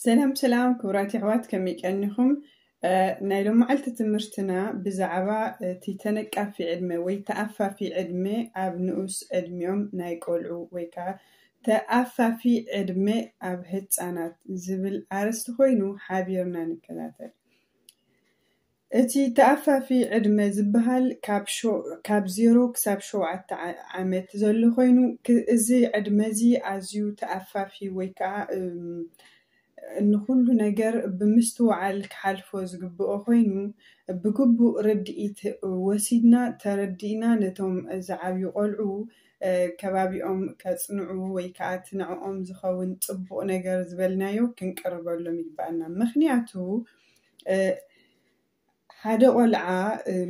ሰላም ሰላም ክቡራት የሕዋት ከመይ ቀኒኹም ናይ ሎማዓልቲ ትምህርትና ብዛዕባ እቲ ተነቃፊ ዕድመ ወይ ተኣፋፊ ዕድመ ኣብ ንኡስ ዕድሚኦም ናይ ቆልዑ ወይ ከዓ ተኣፋፊ ዕድመ ኣብ ህፃናት ዝብል ኣርስቲ ኮይኑ ሓቢርና ንከታተል እቲ ተኣፋፊ ዕድመ ዝበሃል ካብ ዜሮ ክሳብ ሸውዓተ ዓመት ዘሎ ኮይኑ እዚ ዕድመ እዚ ኣዝዩ ተኣፋፊ ወይ ከኣ ንኹሉ ነገር ብምስትውዓል ክሓልፎ ዝግብኦ ኮይኑ ብግቡእ ርድኢት ወሲድና ተረዲእና ነቶም ዝዓብዩ ቆልዑ ከባቢኦም ከጽንዑ ወይ ከኣ እቲ ንዕኦም ዝኸውን ጽቡቕ ነገር ዝበልናዮ ክንቅርበሎም ይግበኣና ምኽንያቱ ሓደ ቆልዓ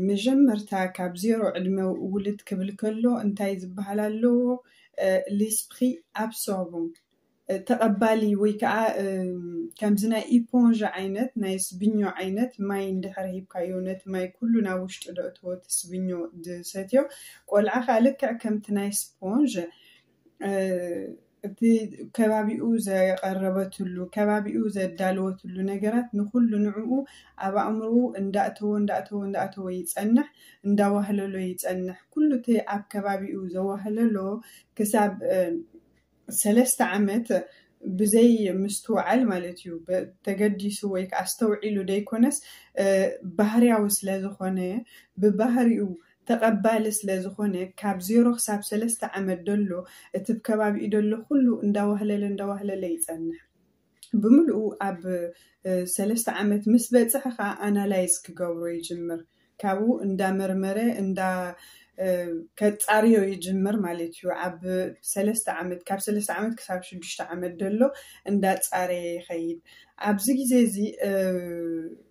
መጀመርታ ካብ ዜሮ ዕድመ ውልድ ክብል ከሎ እንታይ ዝበሃል ኣለዎ? L'esprit absorbant፣ ተቐባሊ ወይ ከዓ ከምዚ ናይ ኢፖንዣ ዓይነት ናይ ስብኞ ዓይነት ማይ እንድሕር ሂብካዮ ነቲ ማይ ኩሉ ናብ ውሽጡ ደእትዎ እቲ ስብኞ ዝሰትዮ ቆልዓ ከዓ ልክዕ ከምቲ ናይ ስፖንዥ እቲ ከባቢኡ ዘቐረበትሉ ከባቢኡ ዘዳለወትሉ ነገራት ንኩሉ ንዕኡ ኣብ ኣእምሮ እንዳእተወ እንዳእተወ እንዳእተወ ይፀንሕ እንዳዋህለሎ ይፀንሕ ኩሉ እቲ ኣብ ከባቢኡ ዘዋህለሎ ክሳብ ሰለስተ ዓመት ብዘይ ምስትውዓል ማለት እዩ ተገዲሱ ወይ ከዓ ኣስተውዒሉ ዘይኮነስ ባህርያዊ ስለዝኾነ ብባህሪኡ ተቐባሊ ስለ ዝኾነ ካብ ዜሮ ክሳብ ሰለስተ ዓመት ደሎ እቲብ ከባቢኡ ደሎ ኩሉ እንዳዋህለለ እንዳዋህለለ ይጸንሕ ብምሉኡ ኣብ ሰለስተ ዓመት ምስ በጽሐ ከኣ ኣናላይዝ ክገብሮ ይጅምር ካብኡ እንዳመርመረ እንዳ ከጻርዮ ይጅምር ማለት እዩ ኣብ ሰለስተ ዓመት ካብ ሰለስተ ዓመት ክሳብ ሽዱሽተ ዓመት ደሎ እንዳጻረየ ይኸይድ ኣብዚ ግዜ እዚ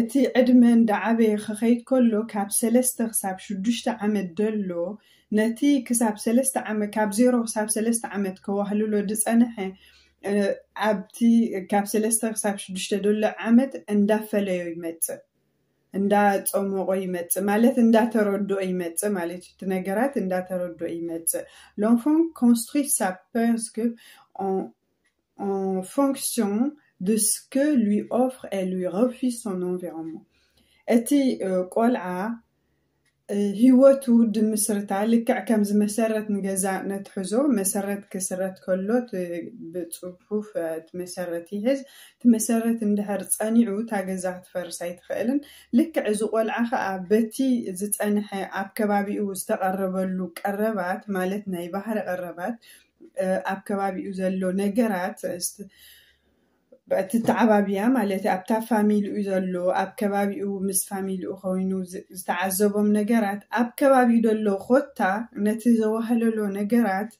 እቲ ዕድመ እንዳዓበየ ክኸይድ ከሎ ካብ ሰለስተ ክሳብ ሽዱሽተ ዓመት ደሎ ነቲ ክሳብ ሰለስተ ዓመት ካብ ዜሮ ክሳብ ሰለስተ ዓመት ከዋህልሎ ድጸነሐ ኣብቲ ካብ ሰለስተ ክሳብ ሽዱሽተ ደሎ ዓመት እንዳፈለዮ ይመጽእ እንዳጸሞቆ ይመጽእ ማለት እንዳተረድኦ ይመጽእ ማለት እዩ እቲ ነገራት እንዳተረድኦ ይመጽእ ሎንፎን ኮንስትሪ ሳ ፐርስክ en fonction de ce que lui offre et lui refuse son environnement እቲ ቆልዓ ህይወቱ ድምስርታ ልክዕ ከምዚ መሰረት ንገዛ ነትሕዞ መሰረት ክስረት ከሎ ብፅፉፍ እቲ መሰረት ይሕዝ እቲ መሰረት እንድሕር ፀኒዑ እታ ገዛ ክትፈርስ ኣይትኽእልን ልክዕ እዚ ቆልዓ ከዓ በቲ ዝፀንሐ ኣብ ከባቢኡ ዝተቐረበሉ ቀረባት ማለት ናይ ባህሪ ቀረባት ኣብ ከባቢኡ ዘሎ ነገራት ትተዓባብያ ማለት እዩ ኣብታ ፋሚልኡ ዘሎ ኣብ ከባቢኡ ምስ ፋሚልኡ ኮይኑ ዝተዓዘቦም ነገራት ኣብ ከባቢኡ ዘሎ ኮታ ነቲ ዘዋህለሎ ነገራት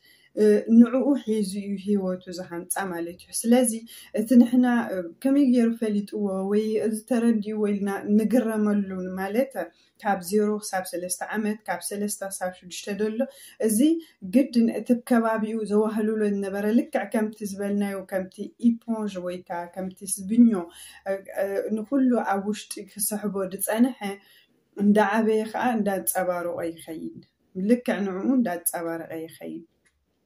ንዕኡ ሒዙ እዩ ሂወቱ ዝሃንፃ ማለት እዩ ስለዚ እቲ ንሕና ከመይ ገይሩ ፈሊጥዎ ወይ እዚ ተረዲእዎ ኢልና ንግረመሉ ማለት ካብ ዜሮ ክሳብ ሰለስተ ዓመት፣ ካብ ሰለስተ ክሳብ ሽዱሽተ ደሎ፣ እዚ ግድን እቲብ ከባቢኡ ዘዋህልሎ ዝነበረ ልክዕ ከምቲ ዝበልናዮ ከምቲ ኢፖንዥ ወይ ከኣ ከምቲ ስብኞ ንኹሉ ኣብ ውሽጢ ክስሕቦ ዝጸንሐ እንዳዓበየ ከኣ እንዳንጸባረቆ ይኸይድ። ልክዕ ንዕኡ እንዳንጸባረቀ ይኸይድ።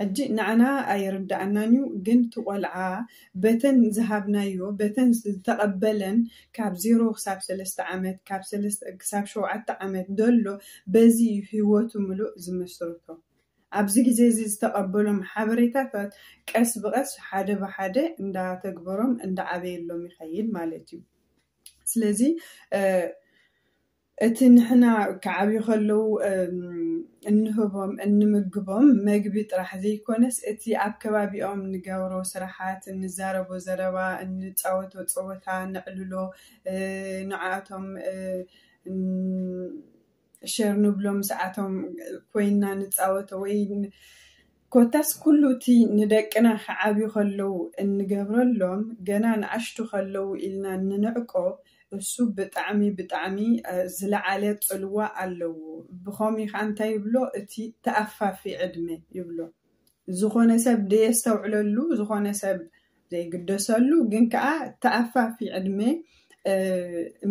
ሕጂ ንዓና ኣይርድኣናን ዩ ግን እቲ ቆልዓ በተን ዝሃብናዮ በተን ዝተቀበለን ካብ ዜሮ ክሳብ ሰለስተ ዓመት ካብ ሰለስተ ክሳብ ሸውዓተ ዓመት ደሎ በዚ ዩ ሂወቱ ምሉእ ዝምስርቶ ኣብዚ ግዜ እዚ ዝተቀበሎም ሓበሬታታት ቀስ ብቀስ ሓደ ብሓደ እንዳተግበሮም እንዳዓበየሎም ይከይድ ማለት ዩ ስለዚ እቲ ንሕና ክዓብዩ ከለዉ እንህቦም እንምግቦም መግቢ ጥራሕ ዘይኮነስ እቲ ኣብ ከባቢኦም እንገብሮ ስራሓት፣ እንዛረቦ ዘረባ፣ እንፃወቶ ፀወታ፣ ነዕልሎ፣ ንዓኣቶም ሸር ንብሎም ምስዓቶም ኮይንና ንፃወቶ ወይ ኮታስ ኩሉ እቲ ንደቅና ክዓብዩ ከለዉ እንገብረሎም ገና ንኣሽቱ ከለዉ ኢልና እንንዕቆ እሱ ብጣዕሚ ብጣዕሚ ዝለዓለ ጽልዋ ኣለዎ ብኸምኡ ከኣ እንታይ ይብሎ እቲ ተኣፋፊ ዕድመ ይብሎ ዝኾነ ሰብ ደየስተውዕለሉ ዝኾነ ሰብ ዘይግደሰሉ ግን ከኣ ተኣፋፊ ዕድመ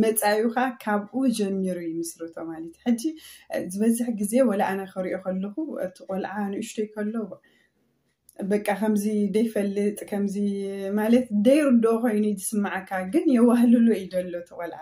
መጻዩኻ ካብኡ ጀሚሩ ይምስርቶ ማለት እዩ ሕጂ ዝበዝሕ ግዜ ወላ ኣነ ክሪኦ ከለኹ እቲ ቆልዓ ንእሽቶይ ከሎ በቃ ከምዚ ደይፈልጥ ከምዚ ማለት ደይርድኦ ኮይኑ እዩ ዝስምዓካ ግን የዋህልሎ እዩ ደሎ እቲ ቆልዓ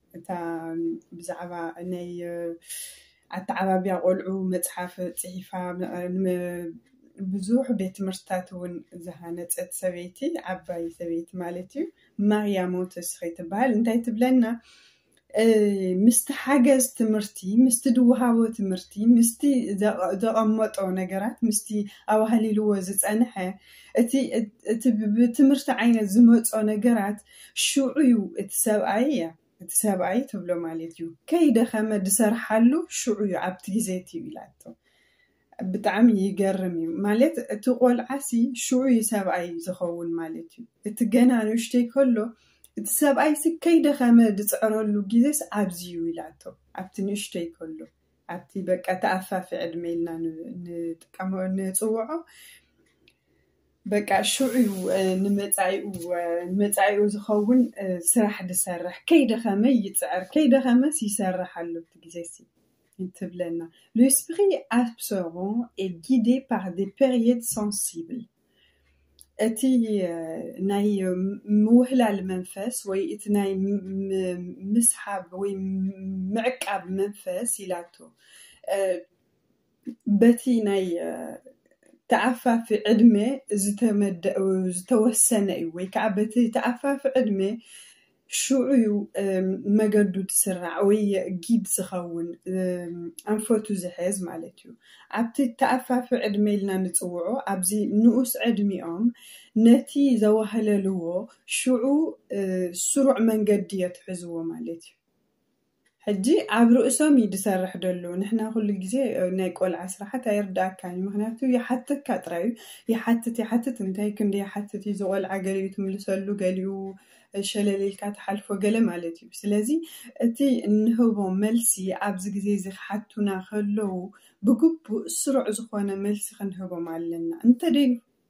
እታ ብዛዕባ ናይ ኣተዓባብያ ቆልዑ መጽሓፍ ጽሒፋ ንብዙሕ ቤት ትምህርትታት እውን ዝሃነጸት ሰበይቲ፣ ዓባይ ሰበይቲ ማለት እዩ፣ ማርያ ሞንተስሪ ትበሃል። እንታይ ትብለና? ምስቲ ሓገዝ ትምህርቲ፣ ምስቲ ድወሃቦ ትምህርቲ፣ ምስቲ ዘቐመጦ ነገራት፣ ምስቲ ኣዋህሊልዎ ዝጸንሐ እቲ ብትምህርቲ ዓይነት ዝመጾ ነገራት ሹዑዩ እቲ ሰብኣይ እያ እቲ ሰብኣይ ትብሎ ማለት እዩ ከይደኸመ ድሰርሓሉ ሹዑዩ ኣብቲ ግዜ እቲ እዩ ኢላቶ ብጣዕሚ ይገርም እዩ ማለት እቲ ቆልዓሲ ሹዑዩ ሰብኣይ ዝኸውን ማለት እዩ እቲ ገና ንእሽተይ ከሎ እቲ ሰብኣይሲ ከይደኸመ ድፅዕረሉ ግዜስ ኣብዚ እዩ ኢላቶ ኣብቲ ንእሽተይ ከሎ ኣብቲ በቃ ተኣፋፊ ዕድመ ኢልና ንጥቀሞ ንፅውዖ በቃ ሽዑ እዩ ንመጻኢኡ ንመጻኢኡ ዝኸውን ስራሕ ዝሰርሕ ከይደኸመ ይጽዕር ከይደኸመስ ይሰርሕ ኣሎ እቲ ግዜሲ ትብለና l'esprit absorbant est guidé par des périodes sensibles እቲ ናይ ምውህላል መንፈስ ወይ እቲ ናይ ምስሓብ ወይ ምዕቃብ መንፈስ ኢላቶ በቲ ናይ ተኣፋፊ ዕድመ ዝተወሰነ እዩ ወይ ከዓ በቲ ተኣፋፊ ዕድመ ሽዑ እዩ መገዱ ዝስራዕ ወይ ጊድ ዝኸውን ኣንፈቱ ዝሕዝ ማለት እዩ። ኣብቲ ተኣፋፊ ዕድመ ኢልና ንፅውዖ ኣብዚ ንኡስ ዕድሚኦም ነቲ ዘዋህለልዎ ሽዑ ስሩዕ መንገዲ የትሕዝዎ ማለት እዩ። ሕጂ ኣብ ርእሶም እዩ ዝሰርሕ ደሎ ንሕና ኩሉ ግዜ ናይ ቆልዓ ስራሓት ኣይርዳኣካን እዩ ምክንያቱ ይሓተካ ጥራይ እዩ ይሓትት ይሓትት እንታይ ክንዲ ይሓትት እዩ ዝቆልዓ ገሊኡ ትምልሰሉ ገሊኡ ሸለል ኢልካ ትሓልፎ ገለ ማለት እዩ ስለዚ እቲ እንህቦ መልሲ ኣብዚ ግዜ እዚ ክሓቱና ከለዉ ብግቡእ ስሩዕ ዝኮነ መልሲ ክንህቦም ኣለና እንተደይ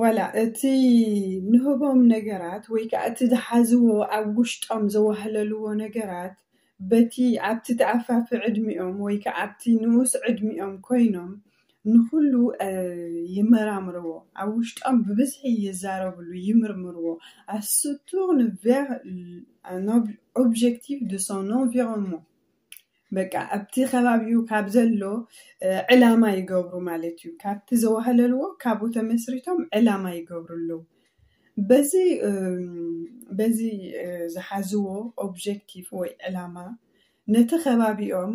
ዋላ እቲ ንህቦም ነገራት ወይ ከዓ እቲ ዝሓዝዎ ኣብ ውሽጦም ዘዋህለልዎ ነገራት በቲ ኣብቲ ተኣፋፊ ዕድሚኦም ወይ ከዓ ኣብቲ ንኡስ ዕድሚኦም ኮይኖም ንኹሉ ይመራምርዎ ኣብ ውሽጦም ብብዝሒ ይዛረብሉ ይምርምርዎ ኣስቱር ንቬር ኦብጀክቲቭ ድ ሶን ኦንቪሮንመንት በቃ ኣብቲ ከባቢኡ ካብ ዘሎ ዕላማ ይገብሩ ማለት እዩ። ካብቲ ዘዋህለልዎ ካብኡ ተመስሪቶም ዕላማ ይገብሩ ኣለዉ። በዚ በዚ ዝሓዝዎ ኦብጀክቲቭ ወይ ዕላማ ነቲ ከባቢኦም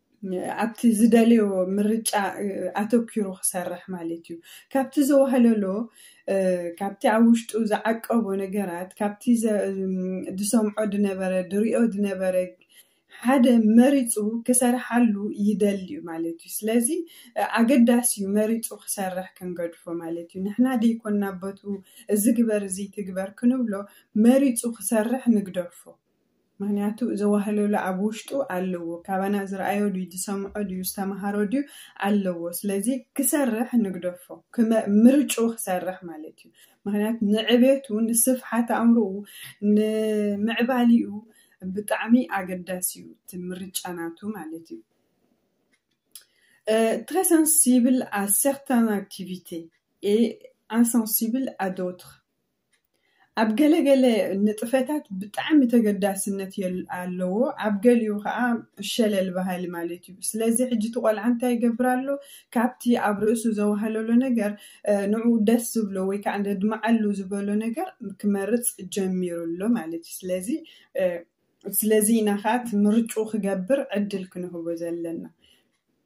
ኣብቲ ዝደልዮ ምርጫ ኣተኪሩ ክሰርሕ ማለት እዩ። ካብቲ ዘዋህለሎ ካብቲ ኣብ ውሽጡ ዝዓቀቦ ነገራት ካብቲ ዝሰምዖ ድነበረ ድሪኦ ድነበረ ሓደ መሪጹ ክሰርሓሉ ይደሊ እዩ ማለት እዩ። ስለዚ ኣገዳሲ እዩ መሪጹ ክሰርሕ ክንገድፎ ማለት እዩ። ንሕና ደይኮና በቱ እዚ ግበር እዚ ትግበር ክንብሎ መሪጹ ክሰርሕ ንግደፎ። ምክንያቱ እዚ ዋህለሎ ኣብ ውሽጡ ኣለዎ ካባና ዝረኣዮ ድዩ ዝሰምዖ ድዩ ዝተምሃሮ ድዩ ኣለዎ ስለዚ ክሰርሕ ንግደፎ ክመ ምርጭኡ ክሰርሕ ማለት እዩ ምክንያቱ ንዕቤቱ ንስፍሓት ኣእምሮኡ ንምዕባሊኡ ብጣዕሚ ኣገዳሲ እዩ እቲ ምርጫ ናቱ ማለት እዩ très sensible à certaines activités et insensible à d'autres ኣብ ገለ ገለ ንጥፈታት ብጣዕሚ ተገዳስነት ኣለዎ ኣብ ገሊኡ ከኣ ሸለል በሃሊ ማለት እዩ ስለዚ ሕጂ እቲ ቆልዓ እንታይ ይገብር ኣሎ ካብቲ ኣብ ርእሱ ዘዋህለሎ ነገር ንዕኡ ደስ ዝብሎ ወይ ከዓ ዘድምዓሉ ዝበሎ ነገር ክመርፅ ጀሚሩ ኣሎ ማለት እዩ ስለዚ ስለዚ ኢና ከዓ እቲ ምርጩ ክገብር ዕድል ክንህቦ ዘለና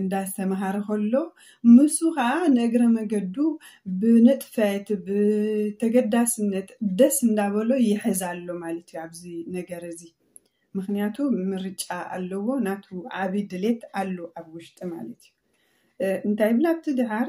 እንዳስተምሃረ ከሎ ንሱ ከዓ ንእግረ መገዱ ብንጥፈት ብተገዳስነት ደስ እንዳበሎ ይሕዝ ኣሎ ማለት እዩ ኣብዚ ነገር እዚ ምክንያቱ ምርጫ ኣለዎ ናቱ ዓብይ ድሌት ኣሎ ኣብ ውሽጢ ማለት እዩ እንታይ ይብል ኣብቲ ድሓር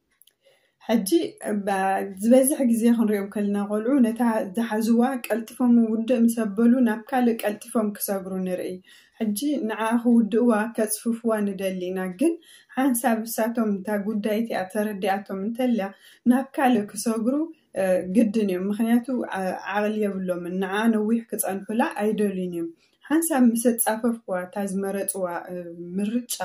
ሕጂ ዝበዝሕ ግዜ ክንሪኦም ከለና ቆልዑ ነታ ዝሓዝዋ ቀልጢፎም ውድእ ምስ ኣበሉ ናብ ካልእ ቀልጢፎም ክሰግሩ ንርኢ። ሕጂ ንዓ ክውድእዋ ከጽፍፍዋ ንደሊ ኢና ግን ሓንሳብ እሳቶም እታ ጉዳይ እቲኣ ተረዲኣቶም እንተልያ ናብ ካልእ ክሰግሩ ግድን እዮም ምክንያቱ ዓቕሊ የብሎምን ንዓ ነዊሕ ክጸንሑላ ኣይደልዩን እዮም። ሓንሳብ ምስ ኣጻፈፍኩዋ እታ ዝመረጽዋ ምርጫ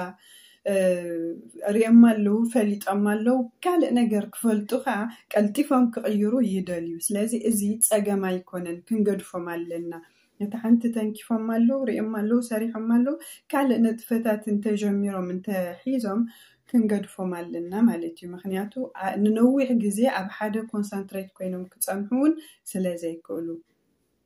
ርእዮማ ኣለዉ፣ ፈሊጦማ ኣለዉ፣ ካልእ ነገር ክፈልጡ ከኣ ቀልጢፎም ክቕይሩ ይደልዩ። ስለዚ እዚ ጸገም ኣይኮነን፣ ክንገድፎም ኣለና። ነታ ሓንቲ ተንኪፎማ ኣለዉ፣ ርእዮማ ኣለዉ፣ ሰሪሖማ ኣለዉ፣ ካልእ ንጥፈታት እንተ ጀሚሮም እንተ ሒዞም ክንገድፎም ኣለና ማለት እዩ። ምኽንያቱ ንነዊሕ ግዜ ኣብ ሓደ ኮንሰንትሬት ኮይኖም ክጸንሑ እውን ስለ ዘይክእሉ።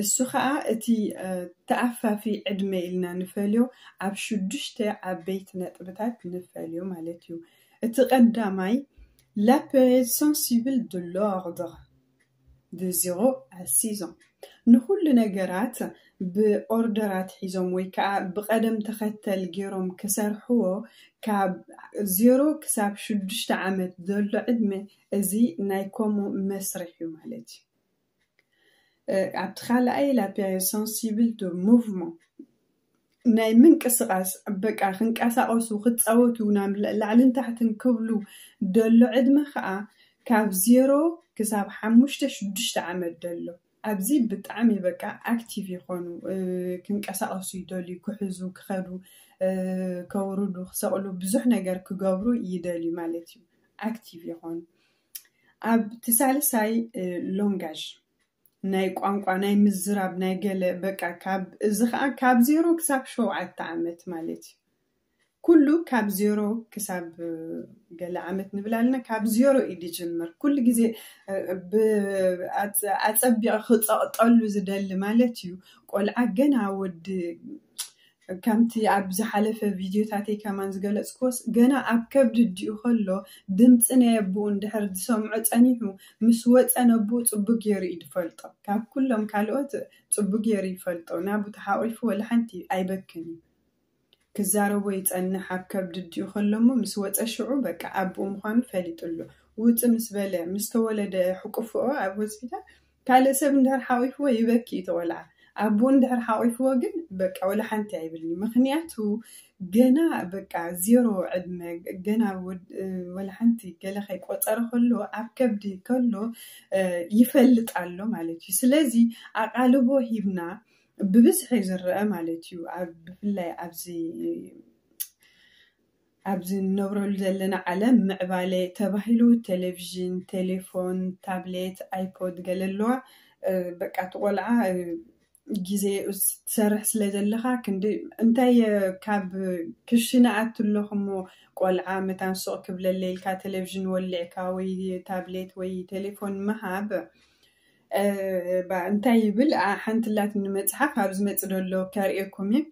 እሱ ኸኣ እቲ ተኣፋፊ ዕድመ ኢልና ንፈልዮ ኣብ ሽዱሽተ ዓበይቲ ነጥብታት ንፈልዮ ማለት እዩ። እቲ ቀዳማይ La période sensible de l'ordre de zéro à six ans ንኹሉ ነገራት ብኦርደር ኣትሒዞም ወይ ከኣ ብቐደም ተኸተል ጌሮም ክሰርሕዎ ካብ ዜሮ ክሳብ ሽዱሽተ ዓመት ዘሎ ዕድመ እዚ ናይ ኮሞ መስርሕ እዩ ማለት እዩ። ኣብቲ ካልኣይ ላ ፔሪዮድ ሰንሲብል ዶ ሙቭመንት ናይ ምንቅስቓስ በቃ ክንቀሳቐሱ ክፃወቱ ናብ ላዕልን ታሕትን ክብሉ ደሎ ዕድመ ከዓ ካብ ዜሮ ክሳብ ሓሙሽተ ሽዱሽተ ዓመት ደሎ ኣብዚ ብጣዕሚ በቃ ኣክቲቭ ይኾኑ ክንቀሳቐሱ ይደልዩ ክሕዙ ክኸዱ ከውርዱ ክሰቕሉ ብዙሕ ነገር ክገብሩ ይደልዩ ማለት እዩ ኣክቲቭ ይኾኑ ኣብቲ ሳልሳይ ሎንጋዥ ናይ ቋንቋ ናይ ምዝራብ ናይ ገለ በቃ ካብ እዚ ከዓ ካብ ዜሮ ክሳብ ሸውዓተ ዓመት ማለት እዩ ኩሉ ካብ ዜሮ ክሳብ ገለ ዓመት ንብል ኣለና ካብ ዜሮ እዩ ዝጅምር ኩሉ ግዜ ኣፀቢቐ ክፀቕጠሉ ዝደሊ ማለት እዩ ቆልዓ ገና ወዲ ከምቲ ኣብ ዝሓለፈ ቪድዮታተይ ከማን ዝገለጽክዎስ፣ ገና ኣብ ከብዲ ኣዲኡ ከሎ ድምጺ ናይ ኣቡኡ እንድሕር ዝሰምዖ ጸኒሑ፣ ምስ ወጸ ነቡኡ ጽቡቅ ጌሩ ኢዩ ድፈልጦ። ካብ ኩሎም ካልኦት ጽቡቅ ጌሩ ይፈልጦ። ናቡ ተሓቂፉ ወላሓንቲ ኣይበክን ኢዩ። ክዛረቦ ይጸንሕ ኣብ ከብዲ ኣዲኡ ከሎ እሞ ምስ ወጸ ሽዑ በቃ ኣቡኡ ምዃኑ ፈሊጡ ኣሎ። ውጽእ ምስ በለ ምስ ተወለደ ሕቁፍኦ ኣብ ሆስፒታል ካልእ ሰብ እንድሕር ሓቚፍዎ ይበኪ እቲ ቆልዓ ኣቡኡ እንድሕር ሓቚፍዎ ግን በቃ ወላ ሓንቲ ኣይብልን ምኽንያቱ ገና በቃ ዜሮ ዕድመ ገና ወላ ሓንቲ ገለ ከይቆጸረ ከሎ ኣብ ከብዲ ከሎ ይፈልጥ ኣሎ ማለት እዩ ስለዚ ኣቓልቦ ሂብና ብብዝሒ ዝረአ ማለት እዩ ብፍላይ ኣብዚ ኣብዚ እንነብረሉ ዘለና ዓለም ምዕባለ ተባሂሉ ቴሌቪዥን፣ ቴሌፎን፣ ታብሌት፣ ኣይፖድ ገለ ኣለዋ በቃ እቲ ቆልዓ ግዜኡ ትሰርሕ ስለ ዘለኻ ክንዲ እንታይ ካብ ክሽነ ኣቱ ኣለኹ እሞ ቆልዓ መታን ሱቕ ክብለለይ ኢልካ ቴሌቪዥን ወሊዕካ ወይ ታብሌት ወይ ቴሌፎን ምሃብ እንታይ ይብል ሓንቲ ኣላትኒ መጽሓፍ ኣብ ዝመጽእ ደሎ ከርእየኩም እዩ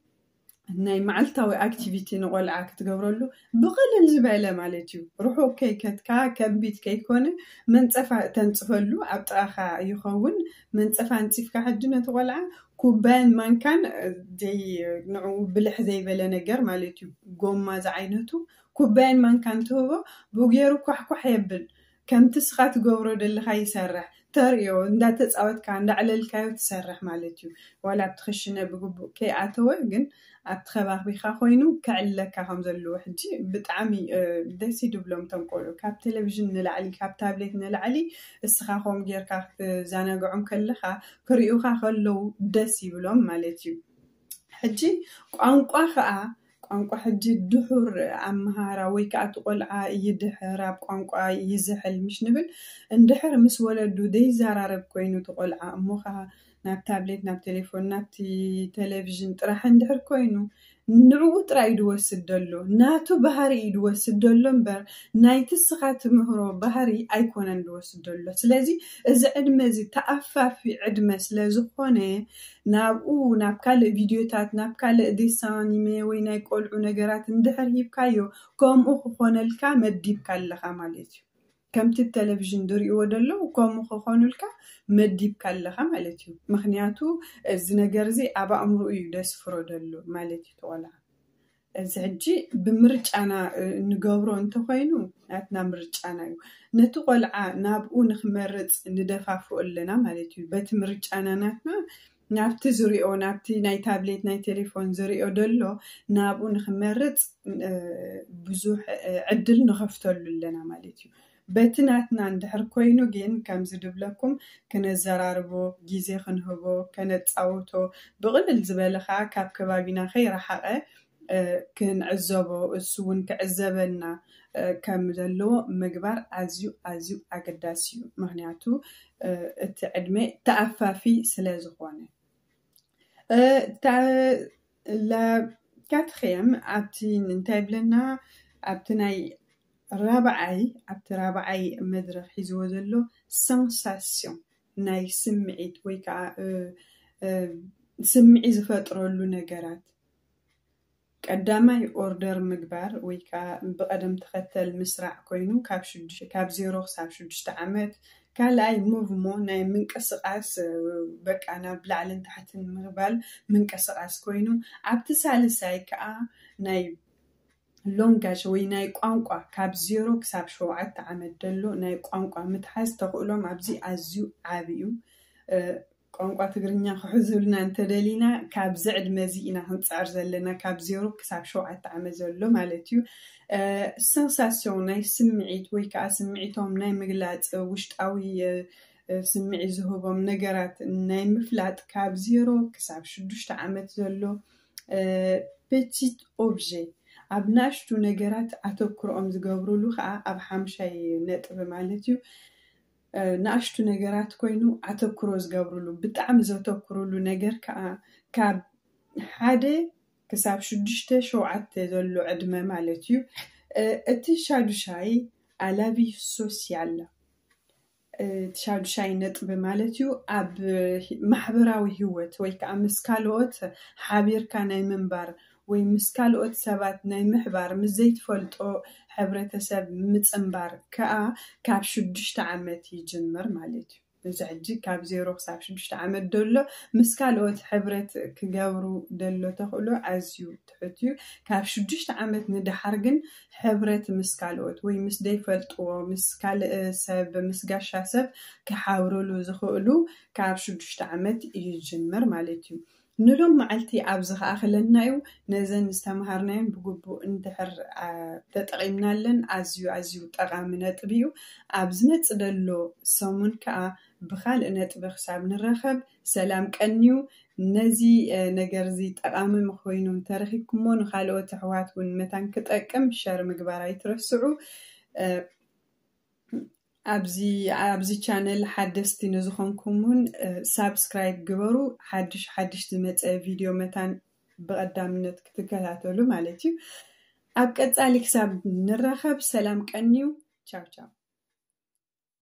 ናይ መዓልታዊ ኣክቲቪቲ ንቆልዓ ክትገብረሉ ብቕልል ዝበለ ማለት እዩ ርሑቕ ከይከትካ ከቢድ ከይኮነ መንፀፋ እተንፅፈሉ ኣብ ጥቓኻ ይኸውን መንፀፋ ኣንፂፍካ ሕጂ ነቲ ቆልዓ ኩባያን ማንካን ዘይ ንዑ ብልሕ ዘይበለ ነገር ማለት እዩ ጎማ ዝዓይነቱ ኩባያን ማንካን ትህቦ ብጌሩ ኳሕኳሕ የብል ከምቲ እስኻ ትገብሮ ደለኻ ይሰርሕ ተርእዮ እንዳተጻወትካ እንዳዕለልካዮ ትሰርሕ ማለት እዩ ዋላ ኣብቲ ክሽነ ብግቡእ ከይኣተወ ግን ኣብቲ ከባቢኻ ኮይኑ ከዕልለካ ከም ዘለዎ ሕጂ ብጣዕሚ ደስ እዩ ድብሎም እቶም ቆልዑ ካብ ቴሌቪዥን ንላዕሊ ካብ ታብሌት ንላዕሊ እስኻ ከም ጌርካ ክትዘናግዖም ከለኻ ክሪኡኻ ከለው ደስ ይብሎም ማለት እዩ ሕጂ ቋንቋ ከዓ ቋንቋ ሕጂ ድሑር ኣመሃህራ ወይ ከኣ እቲ ቆልዓ ይድሕር ኣብ ቋንቋ ይዝሕል ምሽ ንብል እንድሕር ምስ ወለዱ ዘይዛራረብ ኮይኑ እቲ ቆልዓ እሞ ከኣ ናብ ታብሌት ናብ ቴሌፎን ናብቲ ተለቪዥን ጥራሕ እንድሕር ኮይኑ ንዕኡ ጥራይ እዩ ድወስድ ደሎ ናቱ ባህሪ እዩ ድወስድ ደሎ እምበር ናይቲ እስኻ ትምህሮ ባህሪ ኣይኮነን ድወስድ ደሎ ስለዚ እዚ ዕድመ እዚ ተኣፋፊ ዕድመ ስለ ዝኾነ ናብኡ ናብ ካልእ ቪድዮታት፣ ናብ ካልእ ዴሳን ኣኒሜ ወይ ናይ ቆልዑ ነገራት እንድሕር ሂብካዮ ከምኡ ክኾነልካ መዲብካ ኣለኻ ማለት እዩ። ከምቲ ብ ተለቪዥን ድሪእዎ ደለዉ ከምኡ ክኾኑልካ መዲብካ ኣለኻ ማለት እዩ። ምኽንያቱ እዚ ነገር እዚ ኣብ ኣእምሩኡ እዩ ደስፍሮ ደሎ ማለት እዩ እቲ ቆልዓ። እዚ ሕጂ ብምርጫና እንገብሮ እንተኾይኑ ናትና ምርጫና እዩ። ነቲ ቆልዓ ናብኡ ንክመርጽ ንደፋፍኦ ኣለና ማለት እዩ። በቲ ምርጫና ናትና ናብቲ ዝሪኦ ናብቲ ናይ ታብሌት ናይ ቴሌፎን ዝሪኦ ደሎ ናብኡ ንክመርጽ ብዙሕ ዕድል ንኸፍተሉ ኣለና ማለት እዩ። በቲ ናትና እንድሕር ኮይኑ ጊን ከምዚ ድብለኩም ክነዘራርቦ ጊዜ ክንህቦ ከነጻውቶ ብቅልል ዝበለ ከኣ ካብ ከባቢና ከይረሓቀ ክንዕዘቦ እሱ ውን ክዕዘበና ከም ዘለዎ ምግባር ኣዝዩ ኣዝዩ ኣገዳሲ እዩ ምክንያቱ እቲ ዕድመ ተኣፋፊ ስለ ዝኮነ። ላካትሪየም ኣብቲ እንታይ ይብለና ኣብቲ ናይ ራብዓይ ኣብቲ ራብዓይ መድረኽ ሒዝዎ ዘሎ ሰንሳስዮን ናይ ስምዒት ወይ ከዓ ስምዒ ዝፈጥረሉ ነገራት ቀዳማይ ኦርደር ምግባር ወይ ከዓ ብቐደም ተኸተል ምስራዕ ኮይኑ ካብ ዜሮ ክሳብ ሽዱሽተ ዓመት ካልኣይ ሞቭሞ ናይ ምንቅስቃስ በቃ ናብ ላዕልን ታሕትን ምባል ምንቅስቃስ ኮይኑ ኣብቲ ሳልሳይ ከኣ ናይ ሎንጋዥ ወይ ናይ ቋንቋ ካብ ዜሮ ክሳብ ሸውዓተ ዓመት ደሎ ናይ ቋንቋ ምትሓዝ ተኽእሎም ኣብዚ ኣዝዩ ዓቢ እዩ። ቋንቋ ትግርኛ ክሕዙልና እንተደሊና ካብዚ ዕድመ እዚ ኢና ክንጽዕር ዘለና ካብ ዜሮ ክሳብ ሸውዓተ ዓመት ዘሎ ማለት እዩ ሰንሳስዮን ናይ ስምዒት ወይ ከኣ ስምዒቶም ናይ ምግላጽ ውሽጣዊ ስምዒት ዝህቦም ነገራት ናይ ምፍላጥ ካብ ዜሮ ክሳብ ሽዱሽተ ዓመት ዘሎ ፔቲት ኦብጀ ኣብ ናእሽቱ ነገራት ኣተኩሮኦም ዝገብርሉ ከኣ ኣብ ሓምሻይ ነጥቢ ማለት እዩ ንኣሽቱ ነገራት ኮይኑ ኣተኩሮ ዝገብርሉ ብጣዕሚ ዘተኩርሉ ነገር ከኣ ካብ ሓደ ክሳብ ሽዱሽተ ሸውዓተ ዘሎ ዕድመ ማለት እዩ እቲ ሻዱሻይ ኣላቪ ሶሲያል እቲ ሻዱሻይ ነጥቢ ማለት እዩ ኣብ ማሕበራዊ ህይወት ወይ ከዓ ምስ ካልኦት ሓቢርካ ናይ ምንባር ወይ ምስ ካልኦት ሰባት ናይ ምሕባር፣ ምስ ዘይትፈልጦ ሕብረተሰብ ምጽንባር ከኣ ካብ ሽዱሽተ ዓመት ይጅምር ማለት እዩ። እዚ ሕጂ ካብ ዜሮ ክሳብ ሽዱሽተ ዓመት ደሎ ምስ ካልኦት ሕብረት ክገብሩ ደሎ ተኽእሎ ኣዝዩ ትሑት እዩ። ካብ ሽዱሽተ ዓመት ንደሓር ግን ሕብረት ምስ ካልኦት ወይ ምስ ደይፈልጥዎ ምስ ካልእ ሰብ ምስ ጋሻ ሰብ ክሓብርሉ ዝኽእሉ ካብ ሽዱሽተ ዓመት ይጅምር ማለት እዩ። ንሎም መዓልቲ ኣብዚ ክኣኽለና ዩ። ነዘን ዝተምሃርናዮን ብግቡእ እንድሕር ተጠቒምናለን ኣዝዩ ኣዝዩ ጠቓሚ ነጥቢ ዩ። ኣብ ዝመጽእ ዘሎ ሰሙን ከኣ ብኻልእ ነጥቢ ክሳብ ንራኸብ ሰላም ቀንዩ። ነዚ ነገር እዚ ጠቓሚ ኾይኑ እንተረኺብኩሞ ንኻልኦት ኣሕዋት ውን መታን ክጠቅም ሸር ምግባር ኣይትረስዑ። ኣብዚ ኣብዚ ቻነል ሓደስቲ ንዝኾንኩም ውን ሳብስክራይብ ግበሩ ሓድሽ ሓድሽ ዝመጸ ቪድዮ መታን ብቐዳምነት ክትከታተሉ ማለት እዩ ኣብ ቀጻሊ ክሳብ ንራኸብ ሰላም ቀንዩ ቻው ቻው